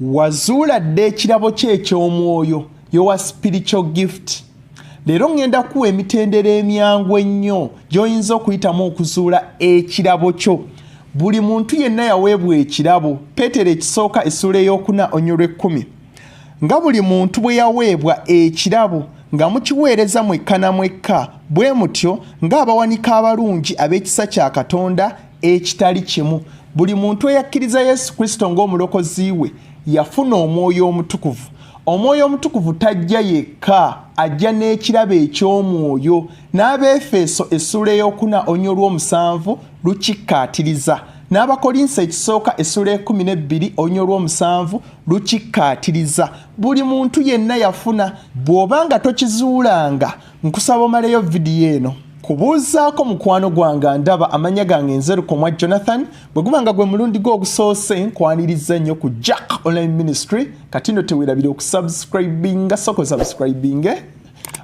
wazuula dda ekirabo kye eky'omwoyo yowa spiritual gift leero ŋŋenda kuwa emitendera emyangu ennyo gy'oyinza okuyitamu okuzuula ekirabo kyo buli muntu yenna yaweebwa ekirabo peetero ekisooka essuula ey'okuna onyolwa ekkumi nga buli muntu bwe yaweebwa ekirabo nga mukiweereza mwekka na mwekka bwe mutyo ng'abawanika abalungi ab'ekisa kya katonda ekitali kimu buli muntu eyakkiriza yesu kristo ng'omulokozi we yafuna omwoyo omutukuvu omwoyo omutukuvu tajja yekka ajja n'ekirabo eky'omwoyo n'abaefeeso essuula eyokuna onya olw'omusanvu lukikkaatiriza n'abakolinso ekisooka essuula ekumi n'ebbiri onya olw'omusanvu lukikkaatiriza buli muntu yenna yafuna bw'oba nga tokizuulanga nkusaba omaleyo vidiyo eno kubuuzaako mukwano gwange ndaba amanya gange nzerukomwa jonathan bwe guba nga gwe mulundi gwe ogusoose nkwaniriza nnyo ku jack online ministry kati no tewerabire okusubscribinga soko subscribinge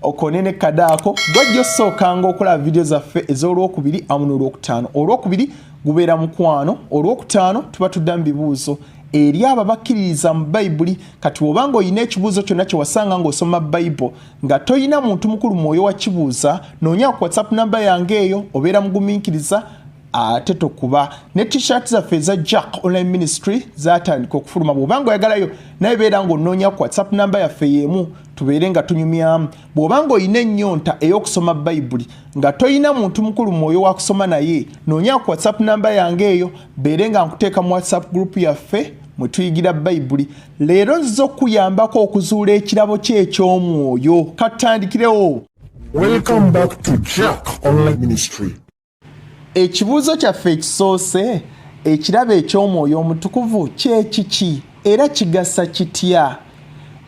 okone ne kadaako gwajja osookanga okulaba vidiyo zaffe ez'olwokubiri amu n'olwokutaano olwokubiri gubeera mukwano olwokutaano tuba tuddamu bibuuzo eri abo abakkiririza mu bayibuli kati obanga olina ekibuuzo kyonna kye wasanga ng'osoma bayibuli nga toyina muntu mukulu mwoyo wakibuuza noonya ku whatsapp namba yange eyo obeera mugumiikiriza ate tokuba ne t-shirt zaffe eza jack online ministry zatandika okufuluma bwoba nga oyagalayo naye beera ngaonoonya ku whatsapp namba yaffe yeemu tubeere nga tunyumyamu bwoba nga olina ennyonta ey'okusoma bayibuli nga tolina muntu mukulu mwoyo wakusoma naye noonya ku whatsapp namba yange eyo beere nga nkuteeka mu whatsapp group yaffe mwe tuyigira bayibuli leero nziza okukuyambako okuzuula ekirabo kye eky'omwoyo katutandikirewo ekibuuzo kyaffe ekisoose ekirabo eky'omwoyo omutukuvu kyekiki era kigasa kitya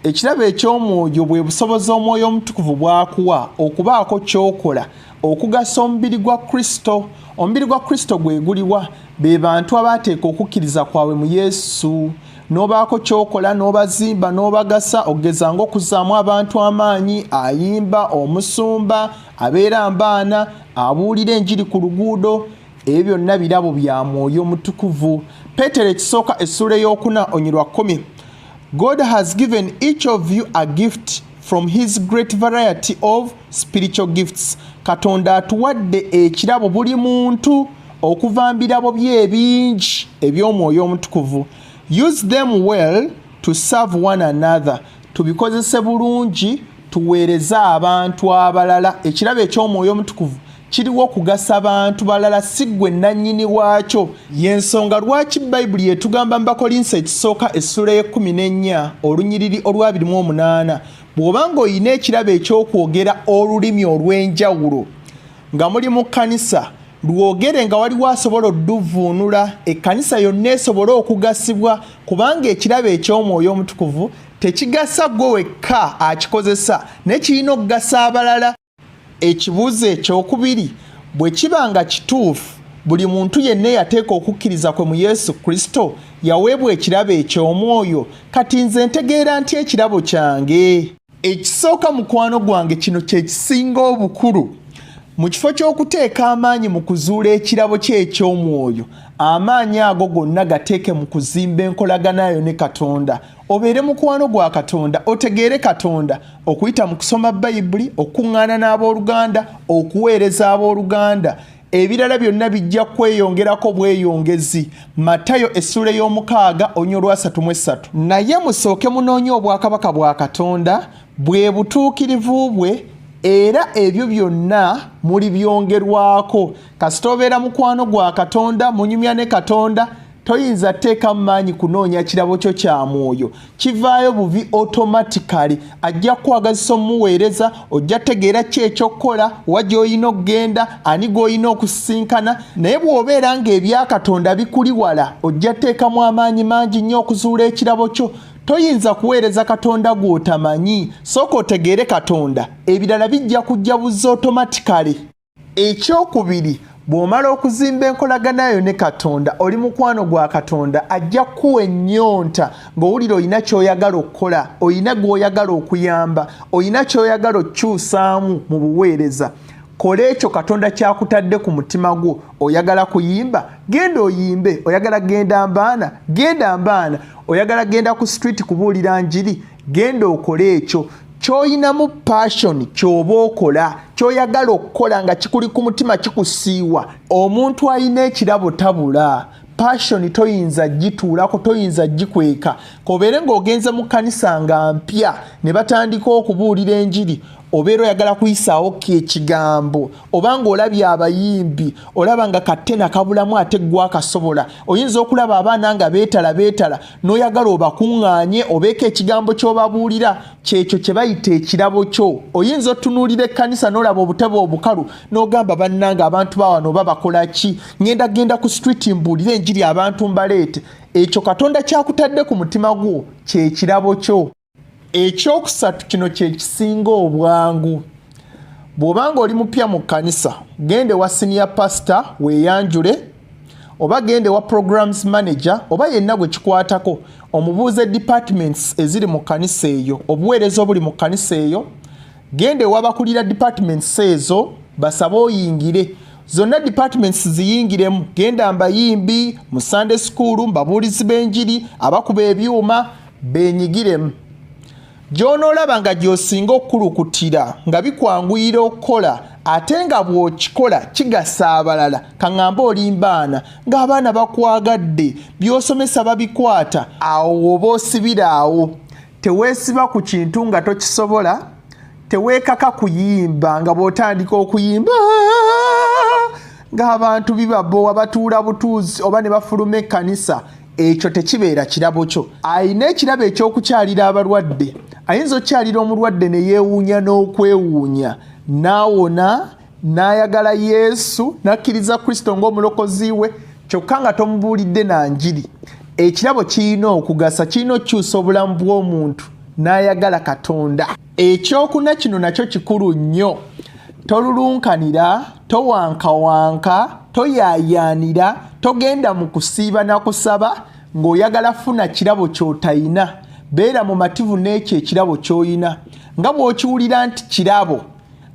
ekirabo eky'omwoyo bwe busobozi omwoyo omutukuvu bwakuwa okubaako kyokola okugasa omubiri gwa kristo omubiri gwa kristo gwe guliwa be bantu abaateeka okukkiriza kwabwe mu yesu n'obaako kyokola n'obazimba n'obagasa okugeza ngaokuzaamu abantu amaanyi ayimba omusumba abeera mbaana abuulira enjiri ku luguudo ebyo byonna birabo bya mwoyo omutukuvu peetero ekisooka essuula ey'okuna onyirwa kkumi God has given each of you a gift from his great variety of spiritual gifts katonda atuwadde ekirabo buli muntu okuva mbirabo bye ebingi eby'omwoyo omutukuvu use them well to serve one another tubikozese bulungi tuweereze abantu abalala ekirabo eky'omwoyo omutukuvu kiriwo kugasa bantu balala si ggwe nannyini waakyo y'ensonga lwaki bayibuli etugamba mu bakolinso ekisooka essula y'ekkumi n'ennya olunyiriri olwabiri mu omunaana bw'oba ng'olina ekirabo eky'okwogera olulimi olw'enjawulo nga muli mu kkanisa lwogere nga waliwo asobola odduvvuunula ekkanisa yonna esobole okugasibwa kubanga ekirabo eky'omwoyo omutukuvu tekigasa gwe wekka akikozesa naye kirina okugasa abalala Ekibuuzo ekyokubiri bwe kiba nga kituufu, buli muntu yenna eyateeka okukkiriza kwe mu Yesu Kristo yaweebwa ekirabo eky'omwoyo. Kati nze ntegeera ntya ekirabo kyange? Ekisooka mukwano gwange, kino kye kisinga obukulu. Mu kifo ky'okuteeka amaanyi mu kuzuula ekirabo kye eky'omwoyo, amaanyi ago gonna gateeke mu kuzimba enkolagana yo ne Katonda. obeere mukwano gwa katonda otegeere katonda okuyita mu kusoma bayibuli okukuŋŋaana n'abooluganda okuweereza abooluganda ebirala byonna bijja kweyongerako bweyongezi matayo essuula ey'omukaaga onya olwasatu mu essatu naye musooke munoonye obwakabaka bwa katonda bwe butuukirivu bwe era ebyo byonna muli byongerwako kasita obeera mukwano gwa katonda munyumya ne katonda toyinza teeka maanyi kunoonya kirabo kyo kya mwoyo kivaayo buvi otomatikali ajja kukwagazisa omuweereza ojja tegeera ki ekyokukola wa gy'olina okugenda ani gw'olina okusisinkana naye bw'obeera ng'ebyakatonda bikuli wala ojja teekamu amaanyi mangi nnyo okuzuula ekirabo kyo toyinza kuweereza katonda gw'otamanyi sooka otegeere katonda ebirala bijja kujja buzza otomatikali ekyokubiri bw'omala okuzimba enkolagana yo ne katonda oli mukwano gwa katonda ajja kukuwa ennyonta ng'owulira olina ky'oyagala okukola olina gw'oyagala okuyamba olina ky'oyagala okukyusaamu mu buweereza kola ekyo katonda kyakutadde ku mutima gwo oyagala kuyimba genda oyimbe oyagala genda mbaana genda mbaana oyagala genda ku street kubuulira njiri genda okole ekyo kyoyinamu passion kyoba okola kyoyagala okukola nga kikuli ku mutima kikusiiwa omuntu alina ekirabo tabula passion toyinza gituulako toyinza gikweka kobeere ngaogenze mu kanisa nga mpya ne batandika okubuulira enjiri obeera oyagala kuyisaawo ko ekigambo oba nga olabye abayimbi olaba nga kattena kabulamu ate ggwakasobola oyinza okulaba abaana nga beetala beetala n'oyagala obakuŋŋaanye obeeko ekigambo ky'obabuulira kyekyo kye bayita ekirabo kyo oyinza otunuulira ekkanisa n'olaba obutebe obukalu n'ogamba bannanga abantu bawano oba bakola ki ŋenda genda ku streeti mbuulire enjiri abantu mbaleete ekyo katonda kyakutadde ku mutima gwo kyekirabo kyo ekyokusatu kino kyekisinga obwangu bw'oba nga oli mupya mu kkanisa genda ewa siniya pasita weeyanjule oba genda ewa programs manager oba yenna gwe kikwatako omubuuze departments eziri mu kkanisa eyo obuweereza obuli mu kkanisa eyo genda ewa bakulira departments ezo basabe oyingire zonna departments ziyingiremu genda mbayimbi mu sunday school mbabuulizi b'enjiri abakuba ebyuma benyigiremu gy'onoolaba nga gy'osinga okukulukutira nga bikwanguyira okukola ate nga bw'okikola kigasa abalala kaŋŋamba olimbaana ng'abaana bakwagadde by'osomesa babikwata awo woba osibira awo teweesiba ku kintu nga tokisobola teweekaka kuyimba nga bw'otandika okuyimba ng'abantu bibabowa batuula butuuzi oba ne bafuluma ekkanisa ekyo tekibeera kirabo kyo alina ekirabo ekyokukyalira abalwadde ayinza okukyalira omulwadde ne yeewuunya n'okwewuunya n'awona n'ayagala yesu n'akkiriza kristo ng'omulokozi we kyokka nga tomubuulidde na njiri ekirabo kirina okugasa kirina okukyusa obulamu bw'omuntu n'ayagala katonda ekyokuna kino nakyo kikulu nnyo tolulunkanira towankawanka toyayaanira togenda mu kusiiba na kusaba ng'oyagala funa kirabo ky'otayina beera mumativu n'ekyo ekirabo ky'oyina nga bw'okiwulira nti kirabo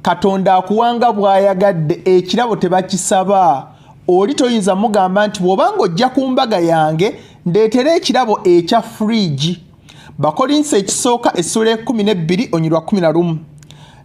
katonda akuwanga bw'ayagadde ekirabo tebakisaba oli toyinza mugamba nti bw'obanga ojja ku mbaga yange ndeetera ekirabo ekya fridge bakolinsi ekisooka essuula ekumi n'ebbiri onyirwa kumi na lumu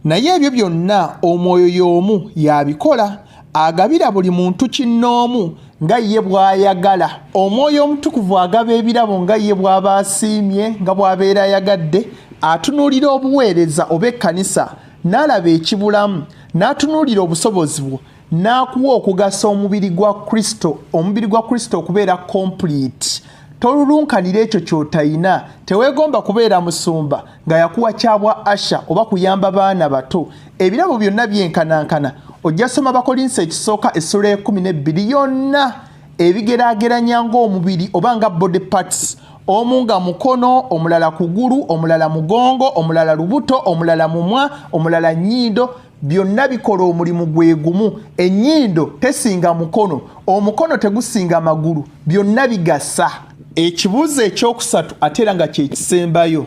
naye ebyo byonna omwoyo y'omu yabikola agabira buli muntu kinnoomu nga ye bw'ayagala omwoyo omutukuvu agaba ebirabo nga ye bw'aba asiimye nga bw'abeera ayagadde atunuulira obuweereza oba ekkanisa n'alaba ekibulamu n'atunuulira obusobozi bwo n'akuwa okugasa omubiri gwa kristo omubiri gwa kristo okubeera complete tolulunkanira ekyo ky'otayina teweegomba kubeera musumba nga yakuwa kyabwa asha oba kuyamba baana bato ebirabo byonna byenkanankana ojja soma bakolinsa ekisooka essula ekumi n'ebbiri yonna ebigerageranya ng'omubiri oba nga body parts omu nga mukono omulala kugulu omulala mugongo omulala lubuto omulala mumwa omulala nyindo byonna bikola omulimu gwe gumu ennyindo tesinga mukono omukono tegusinga magulu byonna bigasa ekibuuzo ekyokusatu ate era nga kyekisembayo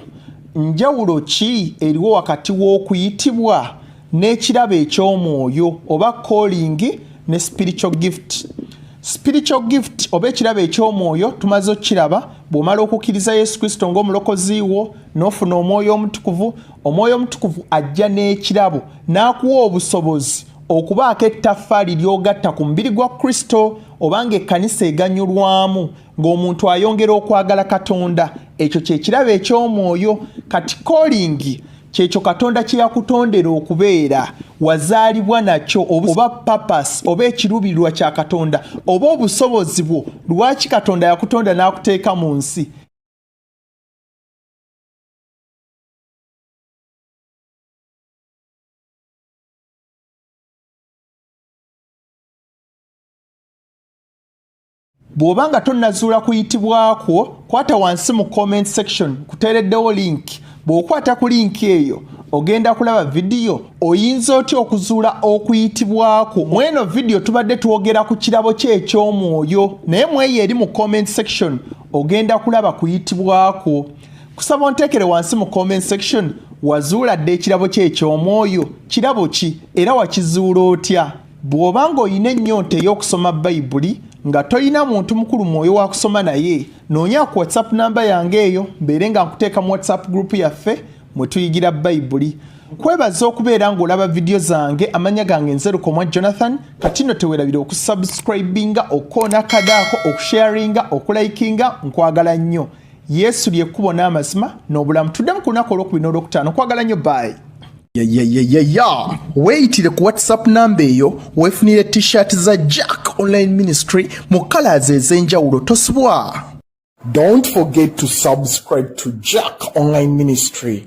njawulo ki eriwo wakati w'okuyitibwa n'ekirabo eky'omwoyo oba calling ne spiritual gift spiritual gift oba ekirabo eky'omwoyo tumaze okukiraba bw'omala okukkiriza yesu kristo ng'omulokozi wo n'ofuna omwoyo omutukuvu omwoyo omutukuvu ajja n'ekirabo n'akuwa obusobozi okubaako ettaffaali ly'ogatta ku mubiri gwa kristo oba ng'ekkanisa eganyulwamu ng'omuntu ayongera okwagala katonda ekyo kyekirabo eky'omwoyo kati kolingi kyekyo katonda kye yakutondera okubeera wazaalibwa nakyo oba papas oba ekiruubirirwa kya katonda oba obusobozi bwo lwaki katonda yakutonda n'akuteeka mu nsi bw'oba nga tonnazuula kuyitibwa kwo kwata wansi mu comment section kuteereddewo link bw'okwata ku link eyo ogenda kulaba vidiyo oyinza otya okuzuula okuyitibwa kwo mu eno vidiyo tubadde twogera ku kirabo kye eky'omwoyo naye mu eyo eri mu comment section ogenda kulaba kuyitibwa kwo kusaba onteekere wansi mu comment section wazuula dda ekirabo kye eky'omwoyo kirabo ki era wakizuula otya bw'oba ng'olina ennyonta ey'okusoma bayibuli nga tolina muntu mukulu mwoyo wa kusoma naye noonya ku whatsapp namba yange eyo mbeere nga nkuteeka mu whatsapp gurupu yaffe mwe tuyigira bayibuli kwebaza okubeera ng'olaba vidiyo zange amanya gange nzerukomwa jonathan kati no tewerabira okusubscribinga okukoona kadaako okusharinga okulayikinga nkwagala nnyo yesu lyekkubo n'amazima n'obulamu tuddemu ku lunaku olwokubiri n'olwokutaano okwagala nnyo baayi yayayayaya weeyitire ku whatsapp namba eyo weefunire t-shirt za jack online ministry mu kalaazi ez'enjawulo tosubwa don't forget to subscribe to jack online ministry